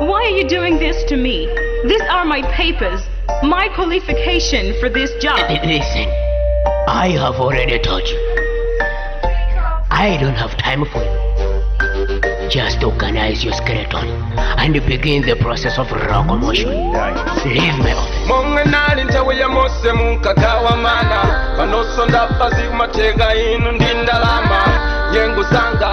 Why are you doing this to me? These are my papers, my qualification for this job. Listen, I have already told you. I don't have time for you. Just organize your skeleton and begin the process of locomotion. Leave my office. monga nali nthawi ya mose munkagawa mana panoso ndafa zikumatheka inu ndi ndalama nyengo zanga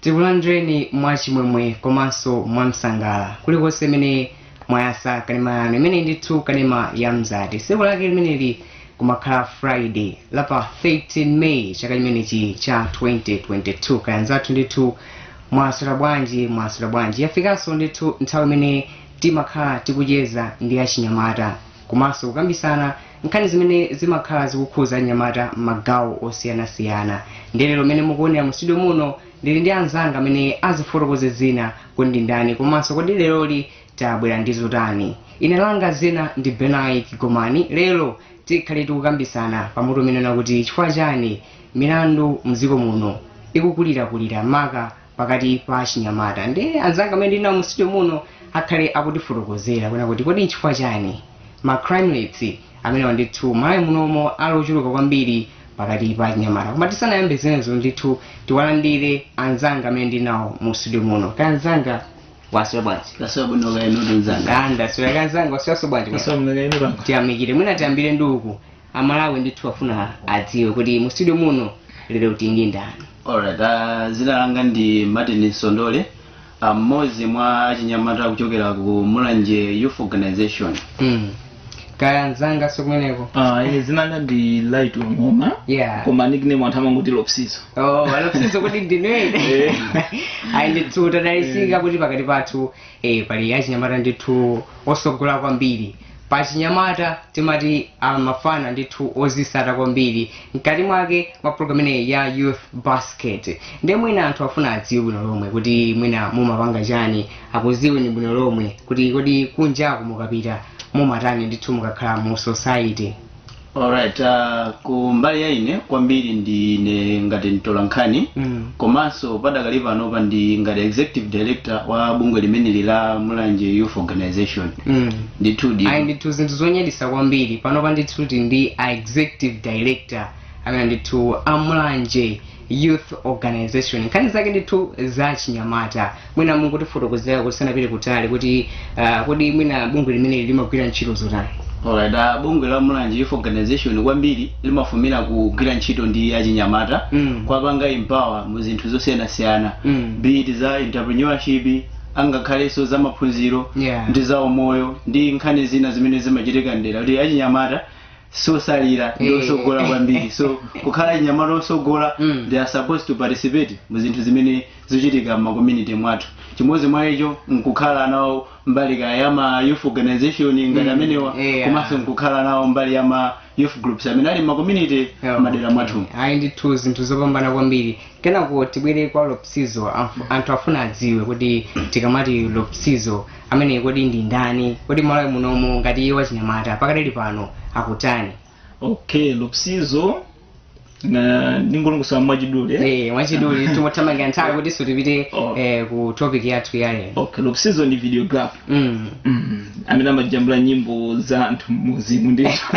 tikulandireni mwachimwemwe komanso mwamsangala kulikonse kumene mwayasa kanema yanu imeneyi ndithu kanema ya mzati tsiku lake limeneli kumakhala friday la pa 13 may chaka chimenechi cha 2022 kaya anzathu ndithu mwaswera bwanji mwaswera bwanji yafikanso ndithu nthawi imene timakhala tikucheza ndi achinyamata komanso kukambisana nkhani zimene zimakhala zikukhuza achinyamata mmagawo osiyanasiyana ndiye lero mene mukuonera mu studio muno ndili ndi anzanga amene azifotokoze dzina kuti ndi ndani komanso kodi leroli tabwera ndi zotani ine langa dzina ndi benai kigomani lero tikhale tikukambisana pa mutu umene ukunena kuti chifukwa chani milandu mdziko muno ikukulirakulira maka pakati pa achinyamata ndi anzanga amene ndili nawo mu studio muno akhale akutifotokozera kuna kuti kodi nchifukwa chani ma crime rates amenewa ndithu malawi munomo ali ochuluka kwambiri pakati pa achinyamata koma tisanayambe zimenezo ndithu tiwalandire anzanga amene ndili nawo mu studio muno kaya anzanga mwaswera bwanji Ndaswera bwino kaya inuyo nzanga. anda swera kaya anzanga mwasweraso bwanji Ndaswera bwino kaya inuyo. tiyamikire mwina tiyambire ndi uku amalawi ndithu afuna adziwe kuti mu studio muno lero tili ndi ndani Alright, uh, dzina langa ndi Martin Sondole, uh, mmodzi mwa achinyamata kuchokera ku Mulanje Youth Organization. mm. kaya anzangaso kumeneko Ah, ine dzina langa ndi light ngoma yeah koma nickname anthu amangoti lopsizo oh a lopsizo kuti ndinene ayi ndithu tadalisika kuti pakati pathu e pali achinyamata ndithu otsogola kwambiri pachinyamata timati amafana ndithu odzitsata kwambiri mkati mwake mwa program imeneyi ya youth basket nde mwina anthu afuna adziwe bwino lomwe kuti mwina mumapanga chani akudziweni bwino lomwe kuti kodi kunjaku mukapita mumatani ndithu mukakhala mu society Alright, uh, ku mbali ya ine kwambiri ndine ngati mtolankhani Mm. komanso padakali panopa ndi ngati executive director wa bungwe limeneli la mulanje youth organization Mm. ndithu ndi ayi ndithu zinthu zonyaditsa kwambiri panopa ndithu ndi a executive director amene ndithu amulanje youth organization nkhani zake ndithu za chinyamata mwina mungotifotokozera tisanapite kutali kuti uh, kodi mwina bungwe limeneli limagwira ntchito zotani Alright, ah, bungwe la Mulanje Youth Organization kwambiri limafumira kugwira ntchito ndi achinyamata Mm. kuwapanga empower mu zinthu zosiyanasiyana Mm. be it za entrepreneurship angakhalenso za maphunziro Yeah. ndi za umoyo ndi nkhani zina zimene zimachitika mdera kuti achinyamata sosalira ndi Eh. osogola kwambiri so kukhala achinyamata osogola Mm. they are supposed to participate mu zinthu zimene zikuchitika mma community mwathu chimodzi mwa icho nkukhala nawo mbali ka ya ma youth organization ngati Mm. amenewa Yeah. komanso nkukhala nawo mbali ya ma youth groups amene ali mma community Yeah. madera mwathu ayi ndithu zinthu zopambana kwambiri kenako tibwere kwa lopsizo Amf- anthu afuna adziwe kuti tikamati lopsizo amene kodi ndi ndani kodi malawi munomo ngati iwe wachinyamata pakadali pano ukutani okay lopsizo na ndingolongosola mwachidule Eh, mwachidule tikuthamanga nthawi kuti tipite Oh. eh, ku topic yathu ya lero okay lopsizo ndi videographer Mm. Mm, amene amajambula nyimbo za anthu mmuzimu ndithu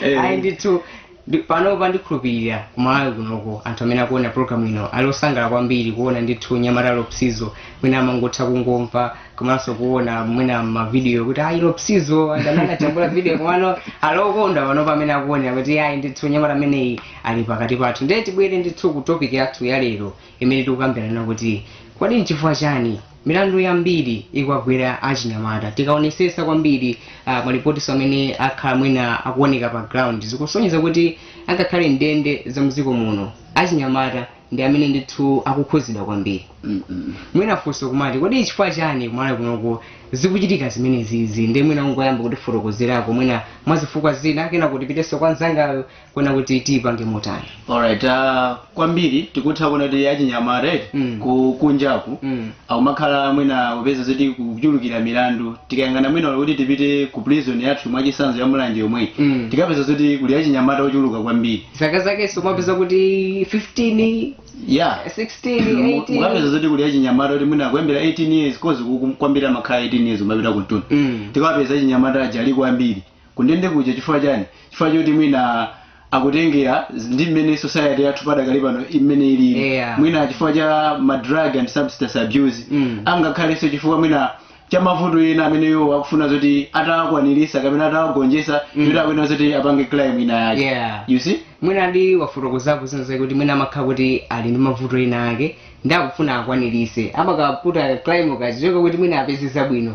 Eh, ayi ndithu Ndi, panopa ndikhulupilira ku Malawi kunoko anthu amene akuona program ino ali osangalala kwambiri kuona ndithu nyamata Lopsizo mwina amangotha kungomva komanso kuona mwina ma video kuti ayi Lopsizo ndi amene anajambula video komano ali okondwa panopa amene akuonera kuti ayi ndithu nyamata ameneyi ali pakati pathu ndiye tibwere ndithu ku topic yathu ya lero imene tikukambirana kuti kodi nchifukwa chani Milandu yambiri ikuwagwera achinyamata. Tikaonesesa kwambiri uh, malipotiso amene akhala mwina akuoneka pa ground zikusonyeza kuti angakhale ndende za mdziko muno achinyamata ndi amene ndithu akukhuzidwa kwambiri. Mm -mm. Mwina funso nkumati kodi chifukwa chani kumalawi kunoko zikuchitika zimenezizi nde mwina ungoyamba kutifotokozerako mwina mwazifukwa zina kenako tipiteso kwa nzangayo kuona kuti tiipange motani alright uh, kwambiri tikutha kuona kuti achinyamata eti Mm. kunjaku Mm. akumakhala mwina kupeza zoti kuchulukira milandu tikayang'ana mwina kuti tipite ku prison yathu mwachisanzo ya mulanje yomweyi Mm. tikapeza zoti kuli achinyamata ochuluka kwambiri zaka zakenso mupeza kuti 15 yeah 16 Mu- 18 mukapeza zoti kuli achinyamata kuti mwina kuyambira 18 years coz kwambiri amakhala 18 years kumapita kumtunda Mm. tikapeza achinyamata aja ali kwambiri kundende kuja chifukwa chani chifukwa choti mwina akutengera z- ndi mmene society yathu padakali pano mmene ilili Yeah. mwina chifukwa cha ma drug and substance abuse Mm. angakhalenso chifukwa mwina cha mavuto ena amene iwo akufuna zoti atawakwanirisa kapena atawagonjesa mm. kuti akuyenera zoti apange crime ina yake Yeah. you see mwina nde wafotokozapo zinazake kuti mwina amakhala kuti ali ndi mavuto ena ake nde akufuna akwanirise amakapanga crime kachichoka kuti mwina apeze zabwino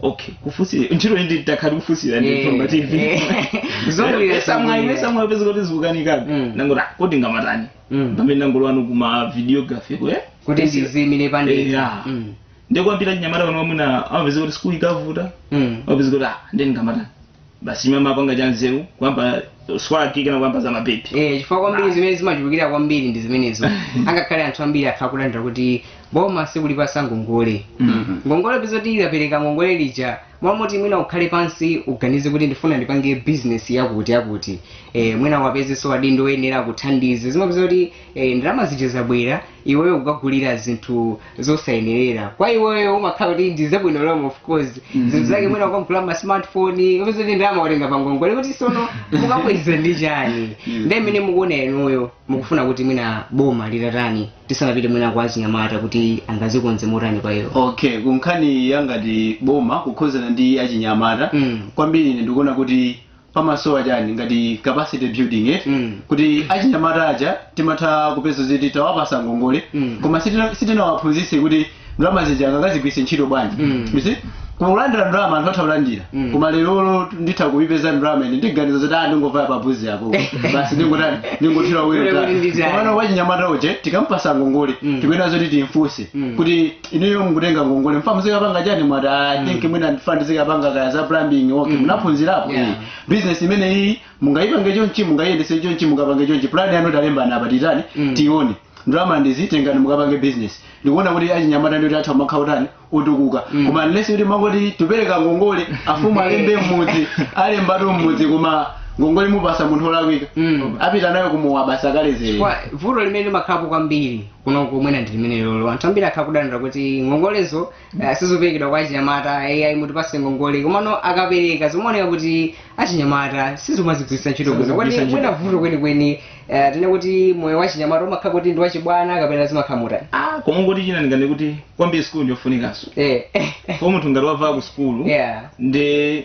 okay kufunsira ntchito iyi nditakhala tikufunsira ndi Eh, mtumba tv eh. Zomwe sa mwayi zomwe. sa mwayi kupeza kuti zikukanikabe Mm. ndangoti ah, kodi ndingamatani Mm. pamene ndinangolowano ku ma videography kwe kuti ndiziimire pandekha Yeah. Mm. nde kwambiri achinyamata pano mwina amapeza kuti sikulu ikavuta Mm. amapeza kuti ah, ndingamatani basi imwe amapanga cha nzeru kuyamba swaki kana kuyamba za mapepi Eh, chifukwa kwambiri zimene zimachulukira kwambiri ndi zimenezo angakhale anthu ambiri athu akulandira kuti boma sikulipasa ngongole Mhm. ngongole upeza kuti likapereka ngongole lija mwamoti mwina ukhale pansi uganize kuti ndifuna ndipange bizinesi yakuti yakuti eh, mwina wapezeso adindo oyenera akuthandize zimapeza kuti eh, ndalama zija zabwera iweyo kukagulira zinthu zosayenerera kwa iweyo umakhala kuti ndi zabwino zomwe of course zinthu zake mwina ukagula ma smartphone upeza kuti ndalama watenga pa ngongole kuti sono mukabweza ndi chani ndiye mmene mukuona inuyo mukufuna kuti mwina boma litatani tisanapite mwina kwa achinyamata kuti angazikonze motani kwa iwo okay kunkhani yangati boma kukhozana ndi achinyamata Mm. kwambiri ine ndikuona kuti pamasowa chani ngati capacity building eti Mm. kuti achinyamata aja timatha kupeza zoti tawapasa ngongole Mm. koma sitina- sitinawaphunzitse kuti ndalama zija angazigwiritse ntchito bwanji Mm. You see? koma kulandira ndalama anthu atha kulandira Mm. koma lerolo nditha kuipeza ndalama ine ndiganiza zoti ah ndingovaya pabuzi apo basi ndingotani ndingothira Ndingothira lero nditani. komano wachinyamata uje tikampasa ngongole Mm. tikuyenera zoti timfunse Mm. kuti inuyo mukutenga ngongole mufuna muzikapanga chani mwati i think mwina ndifuna ndizikapanga kaya za plumbing okay munaphunzirapo Yeah. iyi business imene iyi mungayipange chonchi mungayiyendese chonchi mungapange chonchi plan yanu talembana apa titani Mm. tione ndalama ndi izi tengani mukapange business ndikuona kuti achinyamata ndioti atha kumakhala utani utukuka Mm. koma unless kuti mangoti tipereka ngongole afumu alembe mmudzi alembatu mmudzi koma ngongole mupasa munthu olakwika Mm. apita nayo kumowa basi akaledzere Kwa- vuto limene limakhalapo kwambiri kuno kumene ndi limene lolo anthu ambiri akhala kudandaula kuti ngongolezo uh, sizoperekedwa kwa achinyamata ai mutipase ngongole komano akapereka zimaoneka kuti achinyamata samazigwiritsa ntchito bwino kuti Samazigwiritsa mwina ntchito. vuto kwenikweni uh, tinene kuti moyo wa chinyamata umakhala kuti ndi wachibwana kapena zimakhala motani ah koma kuti china ndinganene kuti kwambiri sikulu ndiyofunikanso eh. kwa munthu ngati wavaya ku sikulu yeah. ndi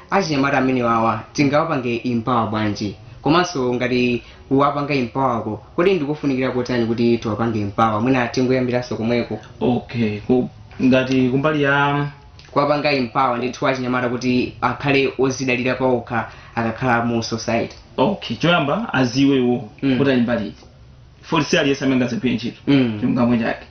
achinyamata amenewawa tingawapange empower bwanji komanso ngati kuwapanga empower ko kodi ndikofunikira kotani kuti tiwapange empower mwina tingoyambiranso komweko okay ku, ngati kumbali ya kuwapanga empower ndithu achinyamata kuti akhale ozidalira paokha akakhala mu society okay choyamba aziziwe iwo Mm. kuti ali mbali iti foti si aliyense amene angazagwire ntchito Mm. chilungamo chake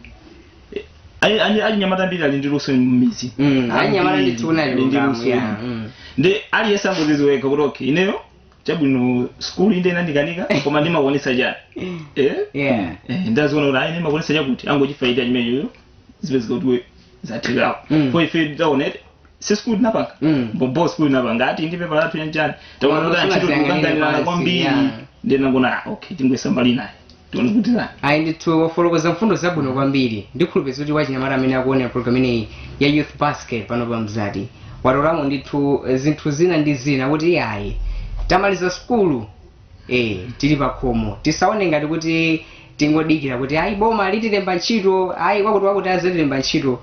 Ayi- ani- achinyamata ambiri ali ndi luso m'midzi Mm, anyamata Ambiri ndithu unali ali ndi luso luso ya mm. ndi aliyense angoziziwa kuti okay ineyo chabwino skulu inde inandikanika koma ndimakwanisa chani eh? yeah Eh, ndaziona kuti ayi ndimakwanisa chakuti angochifayita chimeneyo zipezeka kuti zathekako Mm. kwa ife taonete si sikulu tinapanga Mm. bobo sikulu tinapanga ati ndi pepa lathu yanjani taona kuti Koma antchito sinaziyanganira tikukanganirana pansi, kwambiri yeah. ndinangona ah, okay tingoyesa mbali naye tione kuti nani ayi ndithu wafolokoza mfundo zabwino kwambiri ndikhulupirira kuti wachinyamata amene akuonera program imeneyi ya youth basket pano pa mzati watolamo ndithu eh, zinthu zina ndi zina kuti ayi tamaliza sukulu eh tili pakhomo tisaone ngati kuti tingodikira kuti ayi boma litilemba ntchito ayi wakuti wakuti azitilemba ntchito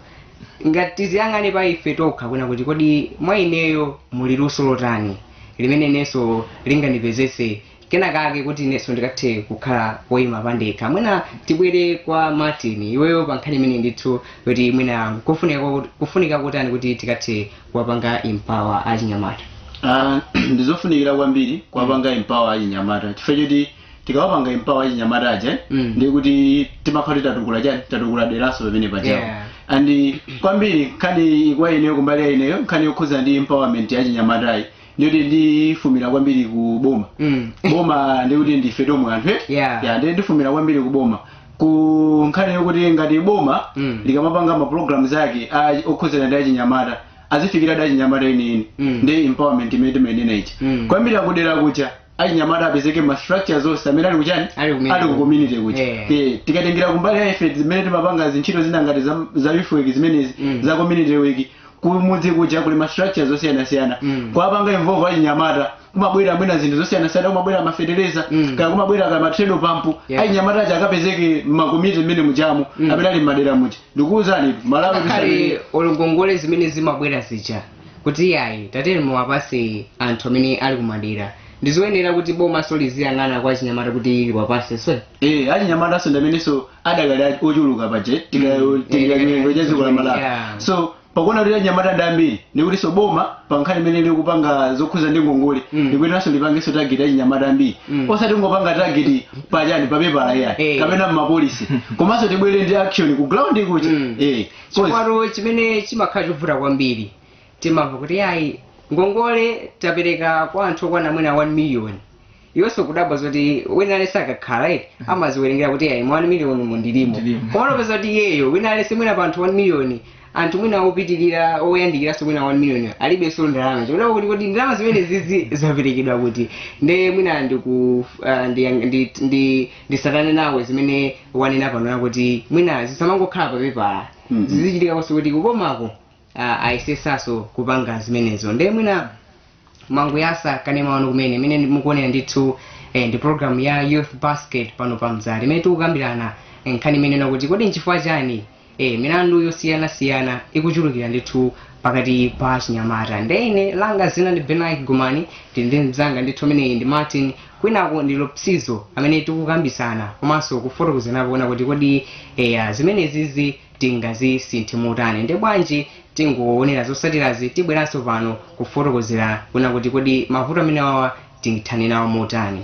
koma tiziyang'ane pa ife tokha kunena kuti kodi mwa ineyo muli luso lotani limene inenso lingandipezetse kena kake kuti inenso ndikathe kukhala woyima pandekha mwina tibwere kwa martin iweyo pa nkhani imene ndithu yoti mwina kufunika kwa- kufunika kotani kuti tikathe kuwapanga empower achinyamata Ah, ndizofunikira kwambiri kuwapanga empower achinyamata chifukwa choti tikawapanga empower achinyamata aja eh, Mm. ndiye kuti timakhala kuti tatukula chani tatukula deraso pamene pajapo Yeah. and eh, kwambiri nkhani kwa ineyo kumbali ya ineyo nkhani yokhuza ndi empowerment ya achinyamatayi ndiyoti ndifunira kwambiri ku boma Mm. boma ndikuti ndife tomwe anthu eh? Yeah. ya ndiye ndifunira kwambiri ku boma ku nkhani yokuti ngati boma Mm. likamapanga ma programs ake a- okhuzana ndi achinyamata azifikira ndi achinyamata enieni Mm. ndi empowerment imene timayenera ichi Mm. kwambiri akudera kuja achinyamata apezeke ma structures onse amene ali kuchani Ali kumene. ali ku community kuti Eh. Eh, tikatengera kumbali ya ife zimene timapanga zintchito zina ngati za, za youth work zimenezi Mm. za community work kumudzi kuja kuli ma structures osiyanasiyana Mm. kuwapanga involve achinyamata kumabwera mwina zinthu zosiyanasiyana kumabwera mafetereza Mm. kaya kumabwera kaya matredo pampu Yeah. achinyamata aja akapezeke mmakomiti mmenemujamo Mm. amene ali mmadera muja ndikuwuzani malawi tisali- ngakhale olo ngongole zimene zimabwera zija kuti yayi tatiyeni muwapase anthu amene ali kumadera ndizoyenera kuti bomaso liziyang'ana kwa achinyamata kuti liwapase so Eh, achinyamataso ndamenenso adakali a- ochuluka paje chiwerengero cha dziko la malawi Yeah. so pakuona kuti achinyamata ndi ambiri ndikutinso boma pa nkhani imene likupanga zokhuza ndi ngongole Mm. likuyeneranso lipangenso tageti achinyamata ambiri Mm. osati kungopanga tageti pachani papepala Eh. yayi kapena m'ma policy komanso tibwere ndi action ku ground kuti Mm. eh chifukwa chimene chimakhala chovuta kwambiri timamva kuti ayi ngongole tapereka kwa anthu okwana mwina 1 million iwonso kudabwa zoti wina aliyense akakhala eti amaziwerengera kuti ayi mwa 1 million mundilimo Ndilimo. komano upeza kuti iyeyo wina aliyense mwina pa anthu 1 million anthu mwina opitirira oyandikiranso mwina 1 million alibenso ndalama chikudabwa kuti kodi ndalama zimenezizi zaperekedwa kuti nde mwina ndiku ah, ndi- ndi- ndi nditsatane nawe zimene wanena pano yakuti mwina zisamangokhala papepala mm -hmm. zizichitikanso kuti kubomako uh, ayesesaso kupanga zimenezo nde mwina mwangoyatsa kanema wanu kumene imene mukuonera ndithu eh, ndi program ya youth basket pano pa mzati imene tikukambirana nkhani imeneyi yakuti kodi nchifukwa chani ee milandu yosiyana siyana ikuchulukira ndithu pakati pa achinyamata nde ine langa dzina ndi Benice Gumani ndili ndi mzanga ndithu ameneyi ndi Martin kwinaku ndi Lopsizo amene tikukambitsana komanso kufotokozana kuona kuti kodi eya zimenezizi tingazisinthe motani nde bwanji tingoonera zosatirazi tibweranso pano kufotokozera kuona kuti kodi mavuto amenewawa tingathane nawo motani.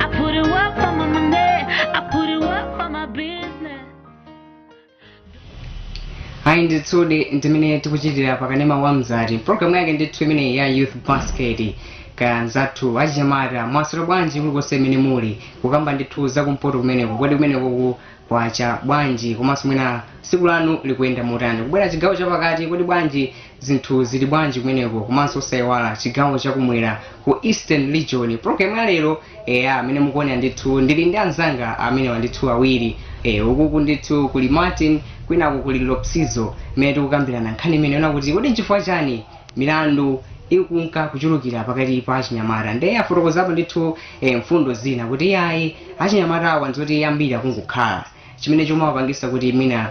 I put it up for my money. I put it up for my business. ayi ndithudi ndimene tikuchitira pakanema wa mzati programu yake ndithu imeneyi ya youth basket ka nzathu achinyamata mwaswera bwanji kulikonse imene muli kukamba ndithu zakumpoto kumeneko kodi kumeneko ku Kwacha, bwanji, komanso mwina tsiku lanu likuyenda motani? Kubwera chigawo chapakati, kodi bwanji, zinthu zili bwanji kumeneko? Komanso osaiwala chigawo chakumwera ku Eastern Region. Program ya lero, eya, amene mukuonera ndithu, ndili ndi anzanga amenewa ndithu awiri. Eh, ukuku ndithu kuli Martin, kwinaku kuli Lopsizo, imene tikukambirana nkhani imeneyi yoona kuti kodi nchifukwa chani milandu ikunka kuchulukira pakati pa achinyamata ndiye afotokozapo ndithu eh, mfundo zina kuti iyayi achinyamata awa ndizoti ambiri akungokhala chimene chomawapangisa kuti mwina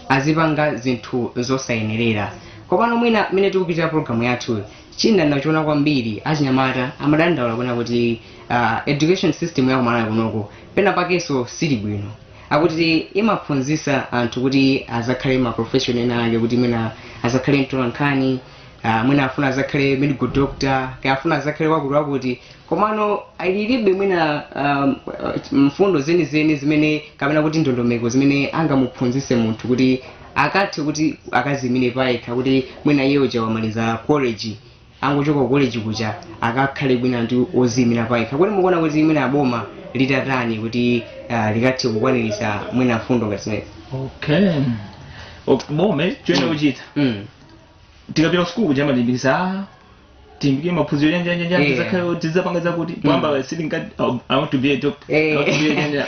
azipanga zinthu zosayenerera komano mwina mmene tikupitira pologalamu yathu chimene ndinachiona kwambiri achinyamata amadandaula kunena kuti uh, education system ya kumalawi kunoko pena pakenso sili bwino akuti imaphunzitsa anthu kuti azakhale ma profession ena ake kuti mwina azakhale mtolankhani ah, mwina afuna azakhale medical doctor kaya afuna azakhale wakuti wakuti komano alilibe mwina um, mfundo zenizeni zimene kapena kuti ndondomeko zimene angamuphunzitse munthu kuti akathe kuti akazimire payekha kuti mwina iye uja wamaliza college angochoka ku college kuja akakhale mwina ndi oziyimira payekha kodi mukuona kuti mwina aboma litatani kuti uh, likathe kukwanirisa mwina mfundo ngati zimene okay Ok, boma choyenera Mm. kuchita mm. tikapita kusukulu kuja amatilimbikisa "Ah, tilimbike maphunziro yanjanjanja Yeah. tizakhale tizapanga zakuti kwamba sitinka i want to be a doctor I want to be a engineer."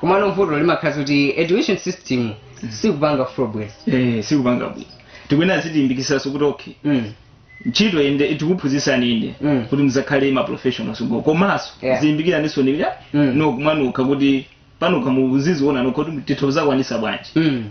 komano vuto limakhala kuti education system sikupanga progress eh sikupanga bwino tikuyenera azitilimbikitsanso kuti okay mm. ntchito inde tikuphunzitsani inde Mm. kuti muzakhale ma professionals komanso Yeah. zilimbikiraninso ni ya Mm. no kumanukha kuti panokha muziziona nokha kuti titha kuzakwanisa bwanji mm.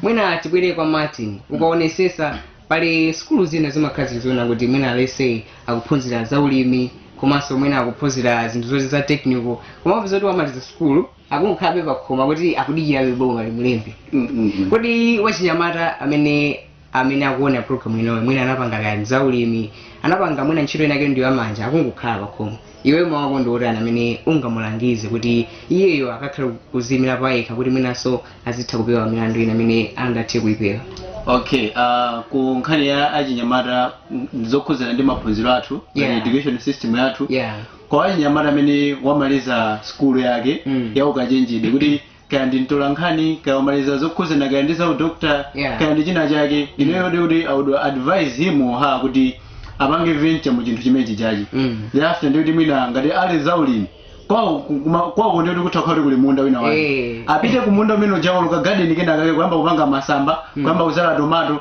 mwina tibwere kwa martin ukaonesesa pali sukulu zina zimakhala zili zoona kuti mwina let's say akuphunzira za ulimi komanso mwina akuphunzira zinthu zoti za technical koma upeza kuti wamaliza sukulu akungokhalabe pakhomo kuti akudikirabe boma limulembe Mm, mm, mm. kodi wachinyamata amene amene akuona program inoyo mwina anapanga kaya za ulimi anapanga mwina ntchito inake ndi yamanja akungokhala pakhomo iweyo mawu ako ndi otani amene ungamulangize kuti iyeyo akakhale kuziyimira payekha kuti mwinanso azitha kupewa milandu ina amene angathe kuyipewa okay uh, ku nkhani ya achinyamata m- zokhudzana ndi maphunziro athu Yeah. yeah. education system yathu yeah kwa achinyamata amene wamaliza skulu yake Mm. ya ukachenjede kuti kaya ndi mtolankhani kaya wamaliza zokhuzana kaya ndi za udokta Yeah. kaya ndi china chake ineyo ndikuti i would advise him or her kuti apange venture mu chinthu chimenechi chachi Mm. thereafter ndikuti mwina ngati ali zaulimi kwawo kuma- kwawo ndikuti kutha kuti kuli munda wina wake Eh. apite ku munda umene uja walima garden kena kake kuyamba kupanga masamba kuyamba kuzala tomato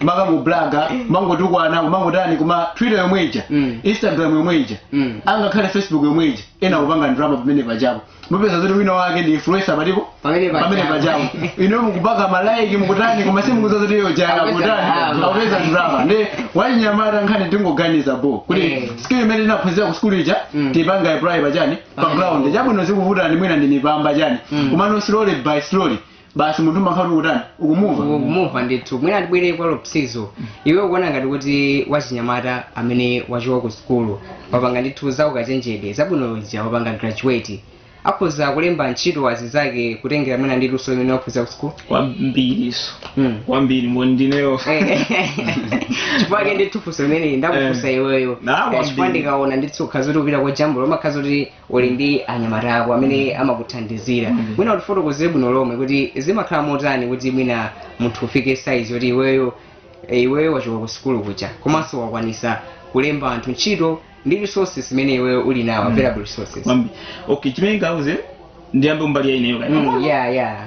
mumakabloga mangotukwana kumangotani koma twitter yomwe ija Mm. instagram yomwe ija Mm. angakhale facebook yomwe ija ena kupanga ndrama pamene pachapo mupeza zoti wina wake ndi influencer patipo Pamene pachapo. pamene pachapo ino mukupaka malaiki mukutani koma simukudziwa zoti iyo uja Akupeza kutani ndrama. akupeza ndrama ndi wachinyamata nkhani tingoganiza bo kuti Eh. skill imene tinaphunzira ku skulu ija Mm. tipanga apply pachani pa Pamene ground papo. chabwino zikuvutani mwina ndi mipamba chani Mm. koma no slowly by slowly basi munthu umakhala ukutani ukumumva kumumva ndithu mwina tibwere kwa lopsizo iwe ukuona ngati kuti wachinyamata amene wachoka ku sukulu wapanga ndithu za ukachenjede zabwino zija wapanga graduate akhoza kulemba ntchito azizake kutengera mwina ndi luso limene waphunzira ku sukulu kwambiriso Mm. kwambiri mboni ndineyo chifukwa chake ndithu funso limeneli ndakufunsa iweyo Na, Eh, chifukwa kwambiri. ndikaona ndithu ukhaza kuti upita kwa jambula umakhaza kuti uli ndi anyamata ako amene amakuthandizira mwina utifotokozere bwino lomwe kuti zimakhala motani kuti mwina munthu ufike saizi yoti iweyo eh, iweyo wachoka ku sukulu kuja komanso wakwanisa kulemba anthu ntchito ndi resources zimene iweyo uli nawo available resources Kwambi. okay chimene ndinganene ndiyambe mbali ya ineyo kaya Mm, yeah, yeah.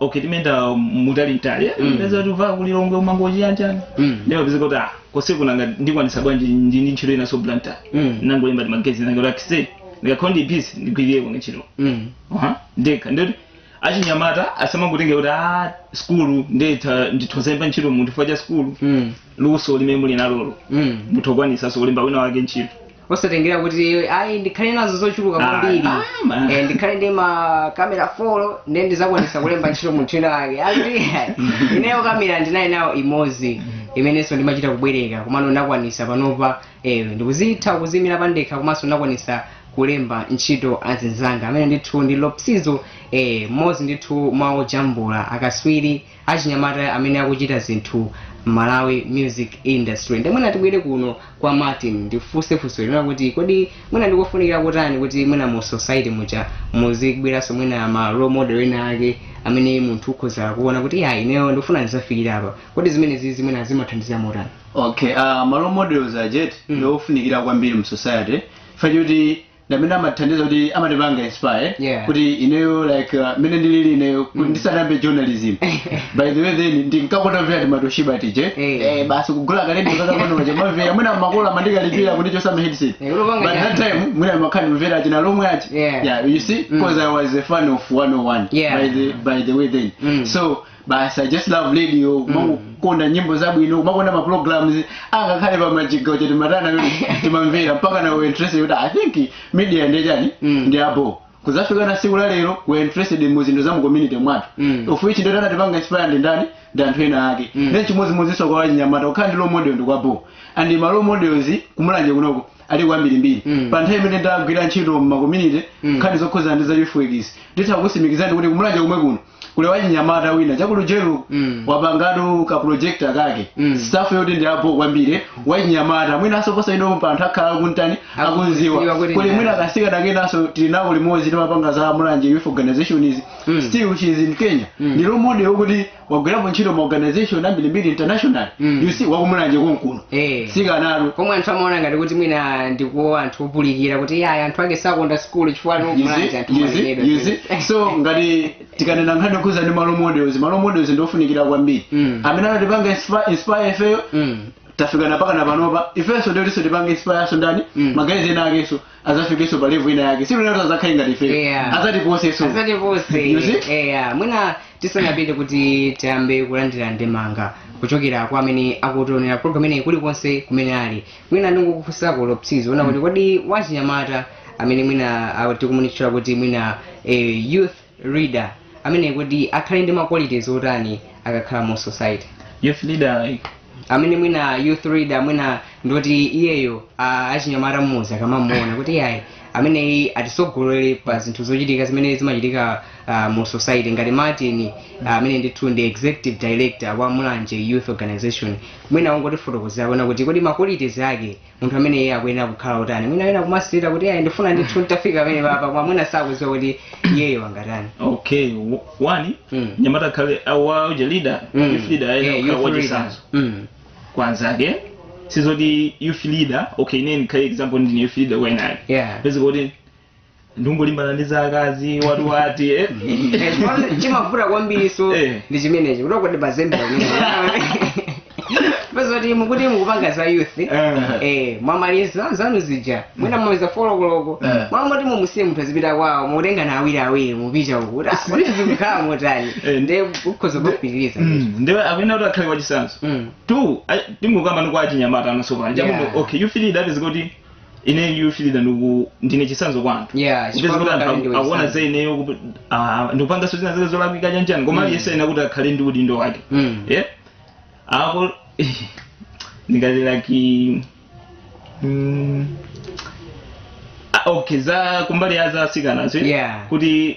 okay timayenda mutali mtali eh Mm. peza kuti uva kulilongwe umangochi yanjani Mm. ndiye wapeza kuti ah kose kunanga ndikwanisa bwanji ndi ndi ntchito ina so blantyre Mm. nangolemba timaguys tanga kuti eh ndikakhala ndi busy ndigwirire kuno ntchito Mm. Aha, nde nkhani ndi yoti achinyamata asamangotenge kuti a skulu nditha nditha kulemba ntchito munthu chifukwa cha skulu Mm. luso limene muli nalolo Mm. muthokwanisaso kulemba wina wake ntchito osatengera kuti ayi ndikhale nazo zochuluka Ah, kwambiri ah, man. Eh, ndikhale ndi makamera folo ndiye ndizakwanisa kulemba ntchito munthu wina wake kuti ineyo kamera ndinali nayo imodzi imenenso ndimachita kubwereka komano ndakwanisa panopa eh, ndikuzitha kuzimira pandekha komanso ndakwanisa kulemba ntchito azinzanga amene ndithu ndi lopsizo eh, mmodzi ndithu mwa ojambula akaswiri achinyamata amene akuchita zinthu Malawi music industry nde mwina tibwere kuno kwa Martin ndikufunse funso lina kuti kodi mwina ndikofunikira kotani kuti mwina mu society muja muzibweranso mwina ma role model ena ake amene munthu ukhoza kuona kuti ya ineyo ndikufuna ndizafikire apa kodi zimenezizi mwina zimathandiza motani okay uh, ma role models aja eti mm. ndiofunikira kwambiri mu society fa choti ndamene amatithandiza kuti amatipanga inspire Yeah. kuti ineyo like uh, mene ndilili ineyo kuti ndisanayambe journalism by the way then ndinkakonda vya timatoshiba tije Eh. eh, basi kugula kalendo kakapanoja kumamvera mwina makolo amandikalipira kuti chotsani ma headset Eh, ulopanga but that chani? time mwina ndimakhala ndimvera achina lomwe achi Yeah. yeah you see because i was a fan of 101 Yeah. by the by the way then Mm. so basi i just love radio kumakonda nyimbo zabwino kumakonda ma programs angakhale pa majiga uja timatana amene timamvera mpaka na we interested kuti i think media ndi chani Mm. ndi abo kuzafika na siku la lero we interested mu zinthu za mu community mwathu Mm. of which ndi oti anatipanga inspire ndi ndani ndi anthu ena ake Mm. then chimodzimodzinso kwa wachinyamata kukhala ndi role model ndi kwabo and ma role models kumulanje kunoko ali kwambirimbiri Mm. pa nthawi imene ndagwira ntchito mma community Mm. nkhani zokhudzana ndi za youth workers nditha kutsimikizirani kuti kumulanje kumwe kuno kuli wachinyamata wina cha ku Lujeri Mm. wapangatu ka project kake Mm. stuff yoti ndi abo kwambiri wachinyamata mwina ansoposa ine pa anthu akhala akumutani Akuziwa akumuziwa kuti kuli ndi mwina ndani. kasikana kenanso tili nako limodzi timapanga za mulanje youth organizations Mm. still she is in kenya Mm. ndi role model yokuti wagwirapo ntchito ma organization ambirimbiri international Mm. you see wakumulanje konkuno Eh. si kumalo komwe anthu amaona ngati kuti mwina ndi kwa anthu opulikira kuti yayi anthu ake sakonda sikulu chifukwa ali kumulanje anthu mwalemedwa you see so ngati tikanena nkhani yokhuza ndi ma role models ma role models ndiofunikira kwambiri Mm. amene anatipanga inspi- inspire ifeyo Mm. tafikana pakana panopa ifenso ndiotinso tipange inspireso ndani Mm. ma guys ena akenso azafikenso pa level ina yake sure eya azakhale ngati ife Yeah. azatiposeso asati You onse see? eya mwina tisanapite kuti tiyambe kulandira ndemanga kuchokera kwa amene akutionera program ineyi kulikonse kumene ali mwina ndingokufunsako Lopsizo ona kuti kodi wachinyamata amene mwina ah, tikumutchula kuti mwina eh, youth leader ameneyi kodi akhale ndi ma qualities otani akakhala mu society? Youth leader like amene mwina youth leader mwina ndoti iyeyo a- achinyamata mmuzi akamamuona kuti iyayi ameneyi atisogolere pa zinthu zochitika zimene zimachitika ah, mu society ngati martin ah, amene ndithu ndi executive director wa mulanje youth organization mwina ungotifotokozerako kuona kuti kodi ma qualities ake munthu amene iye akuyenera kukhala otani mwina wina kumasirira kuti ayi ndifuna ndithu nditafika pamene papa koma mwina sakuziwa kuti iyeyo angatani okay w- one Mm. nyamata akakhala waja leader Mm. youth leader Yeah, ayenera youth wachisanzo leader. Mm. kwa anzake sizoti youth leader okay ine ndikhale example ndine youth leader kwa enawo yeah pezeka kuti ndingolimbana ndi za akazi watiwati eh? chimavuta kwambiri so Eh. ndi chimenechi choti kuti pazembera pezeka kuti mukupanga za youth Eh. eh mwamaliza zanu zija mwina mwamaliza folokoloko Eh. mmalo moti mumusiye munthu azipita kwawo mutengana awiri awiri mupita uku kuti zikukhala motani Eh. nde ukhoza kupitiriza Mm, ndiwe akuyenera kuti akhale wachisanzo Mm. two I- tingokamba ni kwa achinyamata amasopana Yeah. chakuti okay you feel that is kuti ine youth leader ndi kuti ndine chisanzo kwa anthu Yeah, Kupeza chifukwa kuti anthu kale ndiwe aku- akuona chisanzo. za ineyo kuti ah, ndikupanganso zina zake zolakwika chanichani koma aliyense ayenera kuti akhale ndi udindo wake Mm. yeah apo ndingati like mm, ah, okay za kumbali ya za asikanazo Yeah. kuti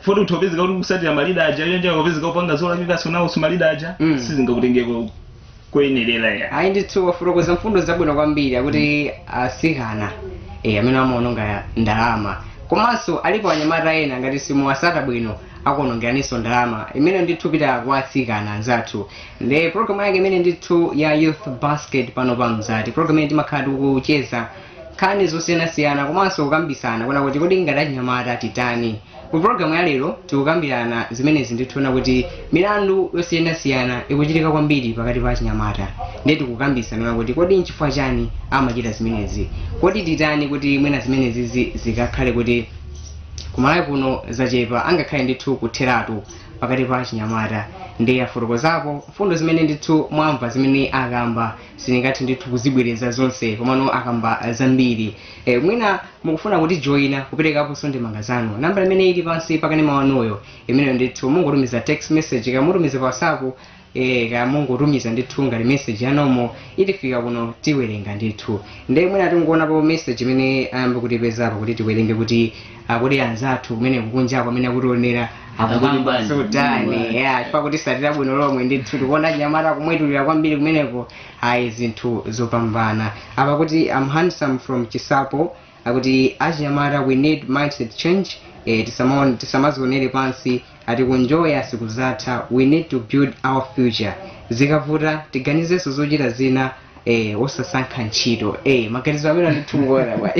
fo utha kupezeka kuti kusatira ma leader aja onja ukapezeka upanga zolakwikaso nawo si ma leader aja Mm. sizingakutengeko koyenerera ya ayi ndithu wafotokoza mfundo zabwino kwambiri akuti asikana eh, amene amaononga ndalama komanso alipo anyamata ena ngati simuwasata bwino akuonongeranso ndalama imene ndithu pita kwa asikana anzathu ndi programu yake imene ndithu ya youth basket pano pa Mzati programu imene timakhala tikucheza nkhani zosiyanasiyana komanso kukambisana kuona kuti kodi ngati anyamata titani ku programu ya lero tikukambirana zimenezi ndithu kuona kuti milandu yosiyanasiyana ikuchitika kwambiri pakati pa achinyamata ndiye tikukambisana kuona kuti kodi nchifukwa chani amachita zimenezi kodi titani kuti mwina zimenezizi zikakhale kuti ku Malawi kuno zachepa angakhale ndithu kutheratu pakati pa achinyamata nde afotokozapo mfundo zimene ndithu mwamva zimene akamba sindingathe ndithu kuzibwereza zonse komano akamba zambiri e, mwina mukufuna kutijoina kuperekaponso ndemanga zanu nambala imene ili pansi pakanema wanuyo imeneyo ndithu mungotumiza text message kamutumiza pa whatsapp e, kamungotumiza ndithu ngati message yanomo itifika kuno tiwerenga ndithu nde mwina tingoonapo message imene ayamba kutipeza apa kuti tiwerenge kuti kodi anzathu kumeneko kunjako amene akutionera Akukamba akuti ndi- chani ya chifukwa akutisatira bwino lomwe ndithu tikuona anyamata akumwetulira kwambiri kumeneko ayi zinthu zopambana apa akuti I'm handsome from Chinsapo akuti achinyamata we need mindset change eh, tisamaone- tisamazionere pansi ati kunjoya sikuzatha we need to build our future zikavuta tiganizenso zochita zina eh osasankha ntchito eh maganizo amenewa ndithu ngolowa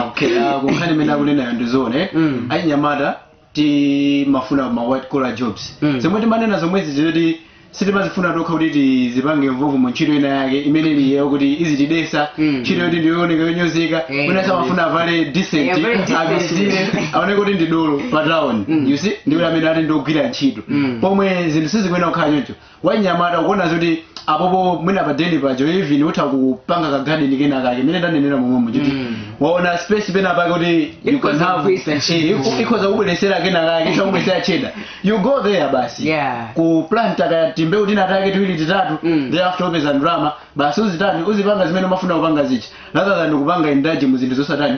okay ah, kunkhani imene akunenayo ndi zoona Mm. achinyamata timafuna ma white collar jobs Mm. zomwe timanena zomwezi zoti sitimazifuna tokha kuti tizipange involve mu ntchito ina yake imene ili yakuti izitidesa Mm. ntchito yoti ndiyooneka yonyozeka Eh, mwina amafuna avale decent Eh, very decent. abisire aone kuti ndi dolo pa town Mm. you see ndi kuti amene ati ndi ogwira ntchito Mm. pomwe zinthu sizikuyenera kukhala choncho wanyamata ukuona zoti apopo mwina pa deni paja even utha kupanga ka garden kena kake imene ndanenera momwemo kuti Mm. waona space pena pake kuti you can Ikhoza have kugwiritsa Eh, ntchito. iku- ikhoza kubweresera kena kake ikhoza kubweresera cheda you go there basi Yeah. ku plant kaya timbeu tina take tiwiri titatu Mm. thereafter upeza ndalama basi uzitani uzipanga zimene umafuna kupanga zichi rather than kupanga indulge mu zinthu zosatani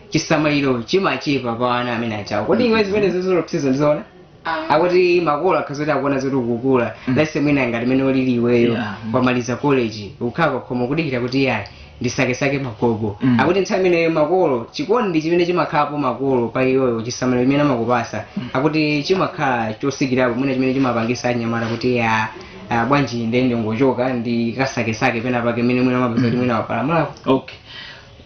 chisamaliro chimachepa pa ana amene achawo kodi iwe zimene ukuonazo ndizoona akuti makolo akakhala zoti akuona zoti ukukula lese mwina ngati mene ulili iweyo Yeah. wamaliza college ukhala pakhomo kudikira kuti yayi ndisakesake magogo Mm. akuti nthawi imeneyo makolo chikondi chimene chimakhalapo makolo pa iweyo chisamaliro chimene amakupasa akuti chimakhala chosikirapo mwina chimene chimapangisa anyamata kuti ya ah, bwanji ndingochoka ndikasakesake pena pake mene mwina mapeza kuti mwina wapalamulako okay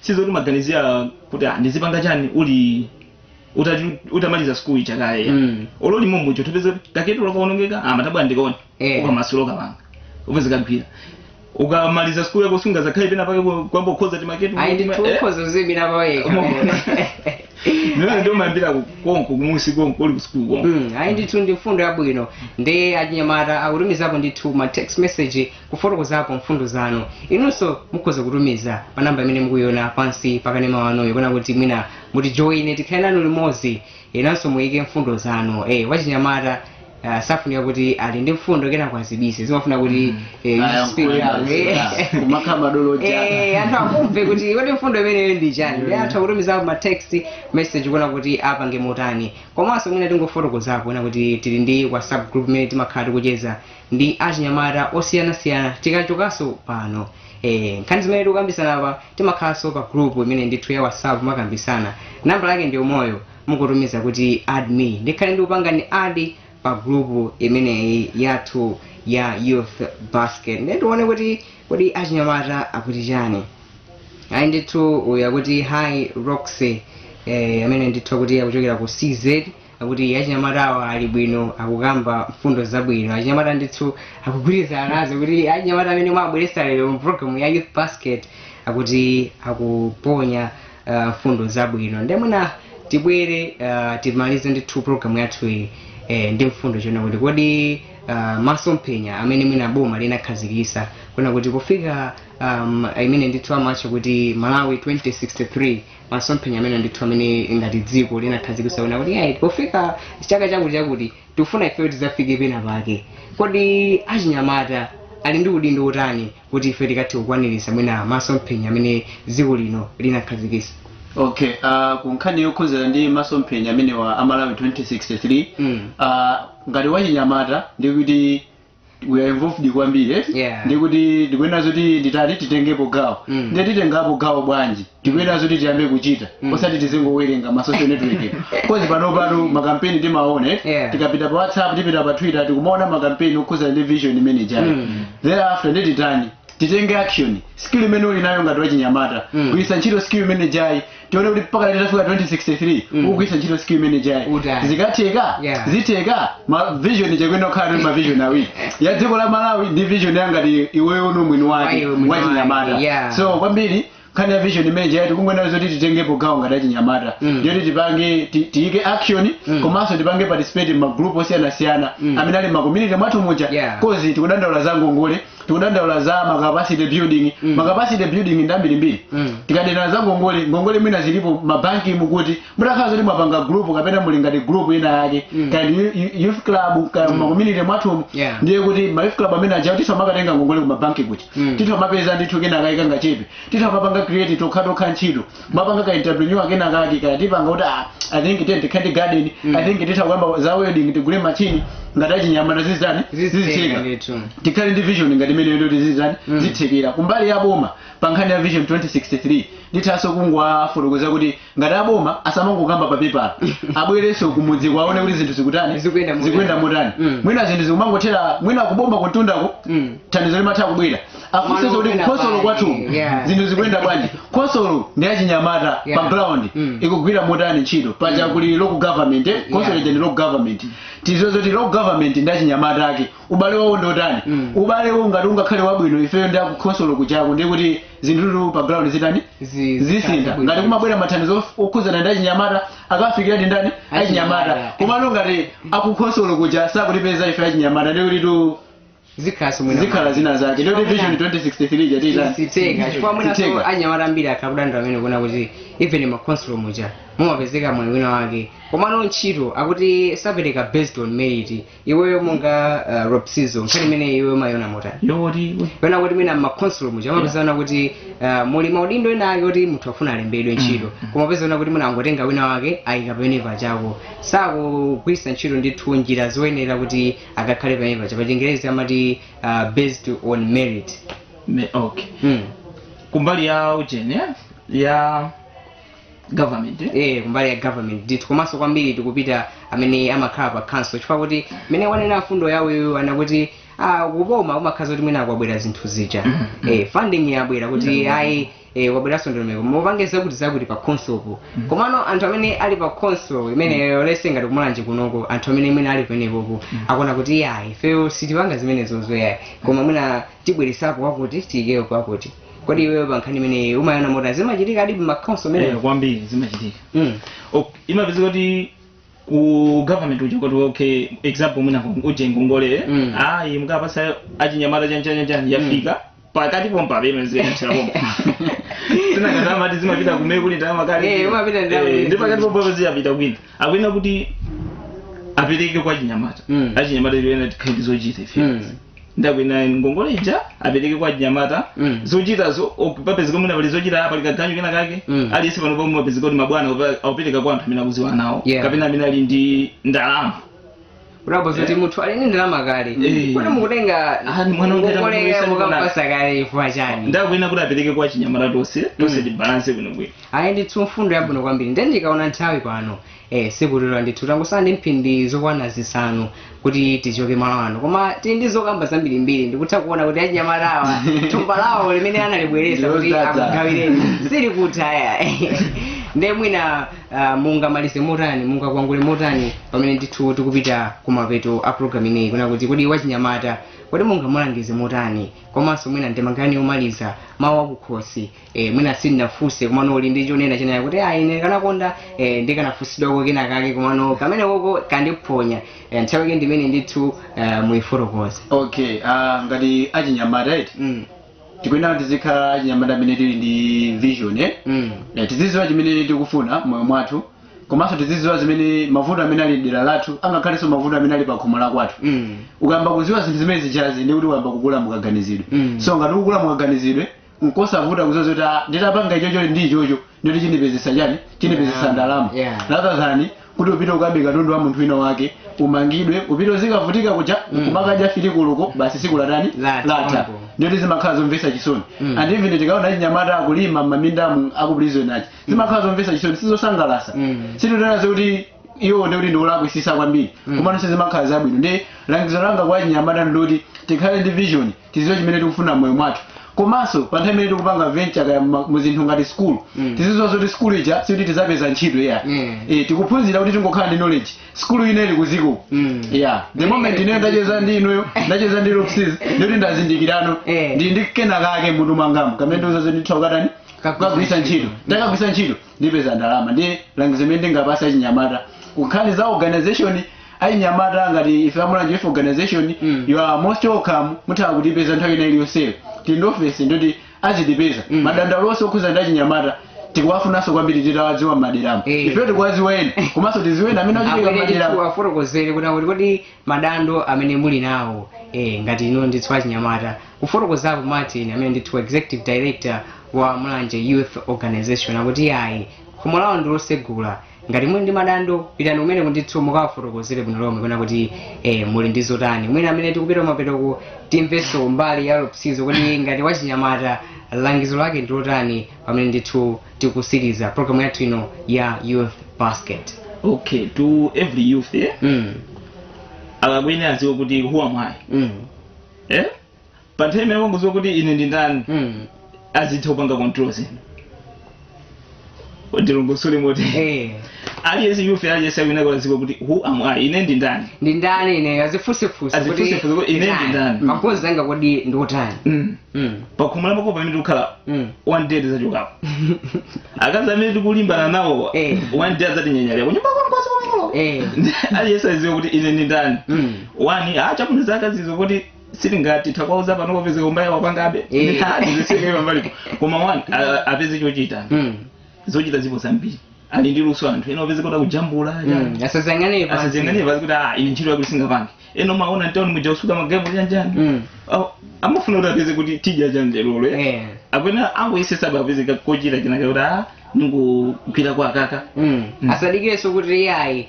sizoti umaganizira kuti ah, ndizipanga chani uli utati- utamaliza school ija kaye Mm. olo limomo icho tupeza kaketu lakaonongeka ah, matabwa ndikaona Eh. ukamasula ukapanga upeza kagwira ukamaliza school yako sunga zikhale pena pake kwamba ukhoza timaketu ayi ndi ukhoza kuziimira pawekha mene ndi umayambira konko kumuzi konko uli kusikulu konko Mm, ayi ndithu ndi mfundo yabwino ndi achinyamata akutumizapo ndithu ma text message kufotokozapo mfundo zanu. Inunso mukhoza kutumiza pa nambala imene mukuiona pansi pa kanema wanuyu kapena kuti mwina mutijoine tikhale nanu limodzi inunso muike mfundo zanu. Eh, wachinyamata ah, safunika kuti ali ndi mfundo kenako azibise zimafunika kuti eh, you Aya, speak kulankhula, out, eh. yeah. Kumakhala madolo jana. Eh, anthu akumve kuti kodi mfundo imeneyo ndi chani ndi anthu akutumizapo ma text message kuona kuti apange motani komanso mwina tingofotokozapo kunena kuti tili ndi whatsapp group imene timakhala tikucheza ndi achinyamata osiyanasiyana tikachokaso pano ee nkhani zimene tikukambisana apa timakhalaso pa group imene ndithu ya whatsapp kumakambisana namba lake ndi imeneyo mungotumiza kuti add me ndikhale ndikukupangani add pa group imeneyi yathu ya youth basket ndiye tione kuti kodi achinyamata akuti chani ayi ndithu uyu akuti hi roxy eh, amene ndithu akuti akuchokera ku cz akuti achinyamata awa ali bwino akukamba mfundo zabwino achinyamata ndithu akugwirizana nazo kuti achinyamata amene mwabweresa lero mu program ya youth basket akuti akuponya uh, mfundo zabwino nde mwina tibwere uh, timalize ndithu program yathu iyi eh, ndi mfundo yonena kuti kodi uh, masomphenya amene mwina boma linakhazikisa kunena kuti kufika um, imene ndithu amatcha kuti malawi 2063 masomphenya amenewa ndithu amene ngati dziko linakhazikisa kunena kuti ayi pofika chaka chakuti chakuti tikufuna ifeyo tidzafike pena pake kodi achinyamata ali ndi udindo wotani kuti ife tikathe kukwaniritsa mwina masomphenya amene dziko lino linakhazikisa okay uh, ku nkhani yokhuzana ndi masomphenya amenewa a malawi 2063 Mm. uh, ngati wachinyamata ndikuti we are involved kwambiri eh? Yeah. ndikuti tikuyenera zoti titani titengepo gawo Mm. ndiye titengapo gawo bwanji tikuyenera zoti tiyambe kuchita Mm. osati tizingowerenga ma social network kozi pano pano makampeni timaona eh? Yeah. tikapita pa whatsapp tipita pa twitter tikumaona makampeni okhuza ndi vision imene ijayo Mm. thereafter nde titani titenge action skill imene uli nayo ngati wachinyamata Mm. kugwiritsa ntchito skill imene ijayi tione kuti mpaka lero tafika 2063 Mm. ukugwiritsa ntchito skill imene ijayi Utali. zikutheka Yeah. zitheka ma vision tikuyenera kukhala ndi ma vision awiri ya dziko la malawi ndi vision ya ngati iweyo umwini wake Wa iwe mwini wake, wachinyamata yeah. so kwambiri nkhani ya vision imene ijayi tikungoonayo zoti titengepo gawo ngati achinyamata Mm. yoti tipange ti- tiyike action Mm. komanso tipange participate ma group osiyanasiyana Mm. amene ali ma community mwathu muja Yeah. 'cause tikudandaula za ngongole tikudandaula za ma capacity building Mm. ma capacity building ndi ambirimbiri Mm. tikudandaula za ngongole ngongole mwina zilipo mabanki muti mutakhala zoti mwapanga group kapena muli ngati group ina yake Mm. kaya ndi yu- yu- youth club kaya ma community mwathumu Yeah. ndiye kuti ma youth club amene ajawo titha kumakatenga ngongole ku mabanki kuti Mm. titha kumapeza ndithu kenakake kangachepe titha kumapanga create tokhatokha ntchito mapanga ka entrepreneur kena kake kaya tipanga kuti ah, i think tiye tikhale ndi garden i think titha kuyamba za welding tigule machine ngati achinyamata zizitani zizitheka ndithu tikhale ndi vision ngati imeneyo yoti tizizitani Mm. zizitheka kumbali ya boma pa nkhani ya vision 2063 ndithanso kungowafotokoza kuti ngati aboma asamangokamba pa pepala abwerenso kumudzi akaone kuti zinthu zikutani Zikuyenda motani. zikuyenda motani Mm. mwina zinthu zikumangothera mwina kuboma kumtundako Mm. thandizo limatha kubwera afunse kuti kukhonsolo kwathu Yeah. zinthu zikuyenda bwanji khonsolo ndi achinyamata Yeah. pa ground Mm. ikugwira motani ntchito paja kuli local government eh? khonsolo Yeah. ija ndi local government tidziwe zoti local government ndi achinyamata ake ubale wawo ndi otani Mm. ubale wawo ngati ungakhale wabwino ifeyo ndi akukhonsolo kujako ndiye kuti zinthu pa ground zitani Zi- zisintha zitani ngati kumabwera mathandizo of- okhudzana ndi achinyamata akafikira ndi ndani achinyamata Achinyamata. komano ngati akukhonsolo kuja sakutipeza ife achinyamata ndiye kuti tu zikhalaso mwina zikhala zina zake ndoti vision 2063 ija tu sitheka chifukwa mwinaso Sitheka. anyamata ambiri akudandaula amene akuona kuti even makhonsolo muja mumapezeka mwayi wina wake komano ntchito akuti sapereka based on merit iweyo monga uh, Robson nkhani imeneyi iweyo umayiona motani yoti pena kuti mwina makhonsolo muja mumapezeka kuti uh, muli maudindo ena ake kuti munthu afuna alembedwe ntchito kumapezeka kuti mwina angotenga wina wake amuyika pamene pajapo osagwiritsa ntchito ndithu njira zoyenera kuti akakhale pamene paja pa chingerezi amati uh, based on merit Me- okay mm. kumbali ya ujeni eh? ya government eh? eh, kumbali ya government ndithu komanso kwambiri tikupita amene amakhala pa council chifukwa kuti mmene wanenera mfundo yawo iwo yonena kuti ah, kuboma kumakhala zoti mwina kwabwera zinthu zija eh, funding yabwera kuti ayi e, yabweranso ndondomeko mupange zakuti zakuti pa khonsolopo komano anthu amene ali pa khonsolo imeneyo let's say ngati kumulanje kunoko anthu amene mwina ali penepopo akuona kuti yayi ifeyo sitipanga zimenezozo yayi koma mwina tibweretsepo wakuti tiyikeyo pakuti kodi iweyo pa nkhani imeneyi umayiona motani zimachitika nadi m'makhonsolo Eh, ameneyo kwambiri zimachitika Mm. Ok, imapezeka kuti ku government uja kuti okay example mwina uje ngongole Mm. ayi mukapatsa achinyamata chanchanyachani yafika pakati pompa pemene ziyamsira pompa sinakatani amati zimapita kumene kuli ndalama kale Eh, umapita ndalama Eh, kale. ndi pakati pompa pamene ziyapita kwina akuyenera kuti apereke kwa achinyamata Mm. achinyamata ena tikhale ndi zochita ife Mm. nde akuyenera ngongole ija apereke kwa achinyamata Mm. zochita zo- ok- papezeka mwina pali zochita pali kaganyu kena kake Mm. aliyense pano pomwe papezeka kuti mabwana akupa- akupereka kwa anthu amene akudziwana nawo Yeah. kapena amene ali ndi ndalama kudabwa zoti munthu ali ndi ndalama kale Eh. kodi mukutenga Ah, ni mwana wanga ngongole ndamuyesa ndi mwana. mukampatsa kale chifukwa chani nde akuyenera kuti apereke kwa achinyamata tonse tonse tibalanse bwinobwino ayi ndithu mfundo yabwino kwambiri nde ndikaona nthawi pano Eh, sikutilora ndithu tangotsala ndi mphindi zokwana zisanu kuti tichoke malo ano koma tili ndi zokamba zambirimbiri ndikutha kuona kuti achinyamatawa thumba lawo limene analibweretsa kuti Ndilozadza. akugawireni silikutha ayi nde mwina ah, mungamalize motani mungakwangule motani pamene ndithu tikupita kumapeto a programu inoyi kunena kuti kodi wachinyamata kodi mungamulangize motani komanso mwina ndemanga yomaliza mawu akukhosi eh, mwina sindinafunse komano uli ndi chonena chonena kuti ayi ine nkanakonda eh, ndikanafunsidwako kena kake komano kameneko kandiphonya eh, nthawi yake ndi imeneyi ndithu eh, muifotokoze okay ah, ngati achinyamata right mm, tikuyenera tizikhala achinyamata amene tili ndi vision eh? mm, Eh, tizidziwa chimene tikufuna moyo mwathu komanso tizidziwa zimene mavuto amene ali dera lathu angakhalenso mavuto amene ali pa khomo la kwathu mm, ukayamba kudziwa zinthu zimene zijazi ndi kuti ukayamba kukula m'kaganizidwe Mm. so ngati ukukula m'kaganizidwe nkosavuta kudziwa zoti ah, nditapanga ichocho ndi ichocho ndoti chindipezetsa chani chindipezetsa Yeah. ndalama Yeah. rather than kuti upite ukabe katundu wa munthu wina wake umangidwe upite uzikavutika kuja kumakadya filikuluko basi siku latani Latha. latha ndoti zimakhala zomvetsa chisoni Mm. and even tikaona achinyamata akulima m'mamindamu aku prison achani zimakhala zomvetsa chisoni sizosangalatsa Mm. sititanazo kuti iwo ndikuti ndikulakwitsitsa kwambiri Mm. komano sizimakhala zabwino nde langizo langa kwa achinyamata ndiloti tikhale ndi vision tidziwe chimene tikufuna moyo mwathu komanso pa nthawi imene tikupanga venture kaya mma- mu zinthu ngati skulu Mm. tizidziwa zoti skulu ija sikuti tidzapeza ntchito ayi Mm. Eh, tikuphunzira kuti tingokhala ndi knowledge skulu inayi ili kudziko Mm. yeah the moment ine ndacheza ndi inuyo ndacheza ndi lopsis ndikuti ndazindikirano Eh. ndi ndi kena kake mutu mwangamu kamene kandiuza zoti nditha kukatani Kagwiritsa kagwiritsa ntchito. ntchito ndikagwiritsa ntchito ndipeza ndalama ndiye langizo limene ndingapatse achinyamata kunkhani za organization achinyamata ngati ife a Mulanje Youth organization Mm. you are most welcome mutha kutipeza nthawi ina iliyonse tili ndi ofesi ndoti azitipeza Mm. madandaulo onse okhuza ndi achinyamata tikuwafunanso kwambiri titawadziwa m'maderamo Eh. ifeyo tikuwadziwa eya komanso tidziwe ena amene akuchitika abwere m'maderamo chithu atifotokozere kuti akuti kodi madando amene muli nawo eh, ngati inu ndithu achinyamata kufotokozapo martin amene ndithu executive director wa mulanje youth organization akuti ayi khomo lawo ndilosegula ngati muli ndi madando pitani kumeneko ndithu mukawafotokozere bwino lomwe kunena kuti eh, muli ndi zotani mwina pamene tikupita kumapetoko timvenso mbali ya lopsizo kuti ngati wachinyamata langizo lake ndilotani pamene ndithu tikusiriza program yathu ino ya youth basket okay to every youth eh? mm. akuyenera aziwe kuti who am I mm. eh? pa nthawi imene wangoziwa kuti ine ndi ndani mm. azitha kupanga control zinthu ndi dongosolo moti eh. aliyense youth aliyense akuyenera kuziwa kuti who am i ine ndi ndani ndi ndani ine azifusefusa Azifusefusa kuti ine ndi ndani. ma goals anga kodi ndi otani Mm. Mm. pakhomo la makolo pamene tikukhala Mm. one day tizachokapo akazi amene tikulimbana nawo Eh. one day adzatinyanyalira kunyumba kwanu kwathu kwamakolo Eh. aliyense aziwe kuti ine ndi ndani Mm. wani ah chabwino za akazizo kuti sitingati takwauza pano kupezeka kumbaliku wapangabe Eh. ndithatiziseke pambalipo koma wani a- apeze chochita Mm. zochita zipo zambiri ali ndi luso anthu ena upeza kuti akujambula ali- Mm, asazangane pa- asazionere pasi kuti ah ine ntchito yakuti singapange ena timaona mtauni muja kusuka magalimoto chanichani Mm. Aw- amafuna kuti apeze kuti tija chanjelolo ya Eh. kapena angoyesesa apeze chochita chinaka kuti ah ndingogwira kwa akaka Mm. Mm. asadikireso kuti iyayi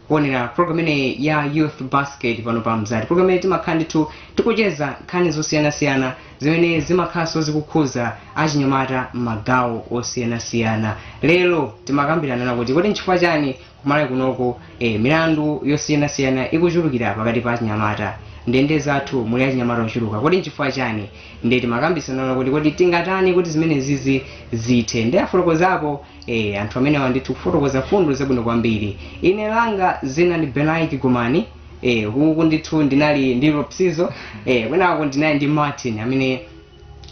kuonera program imeneyi ya youth basket pano pa mzati program imene timakhala ndithu tikucheza nkhani zosiyanasiyana zimene zimakhalanso zikukhuza achinyamata m'magawo osiyanasiyana lero timakambirana na kuti kodi nchifukwa chani kumalawi kunoko eh, milandu yosiyanasiyana ikuchulukira pakati pa achinyamata ndende zathu muli achinyamata ochuluka kodi nchifukwa chani nde timakambisana kuti kodi tingatani kuti zimenezizi zithe nde afotokozapo Eh, anthu amenewa ndithu kufotokoza mfundo zabwino kwambiri ine langa zina ndi benaik gomani eh, huku ndithu ndinali ndi lopsizo eh, kwinako ndinali ndi martin amene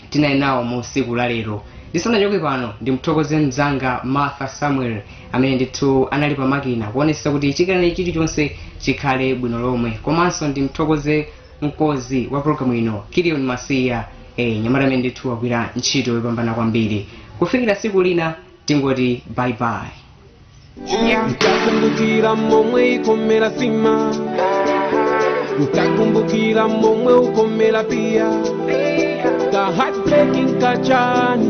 tinali nawo mu siku la lero ndisanachoke pano ndimthokoze mzanga martha samuel amene ndithu anali pamakina kuonesa kuti china chilichonse chikhale bwino lomwe komanso ndimthokoze mkozi wa program ino kilion masiya ee mnyamata amene ndithu wagwira ntchito yopambana kwambiri kufikira siku lina tingoti bye bye ntakumbukira momwe imakomera sima ntakumbukira momwe imakomera pia ka heartbreaking kachani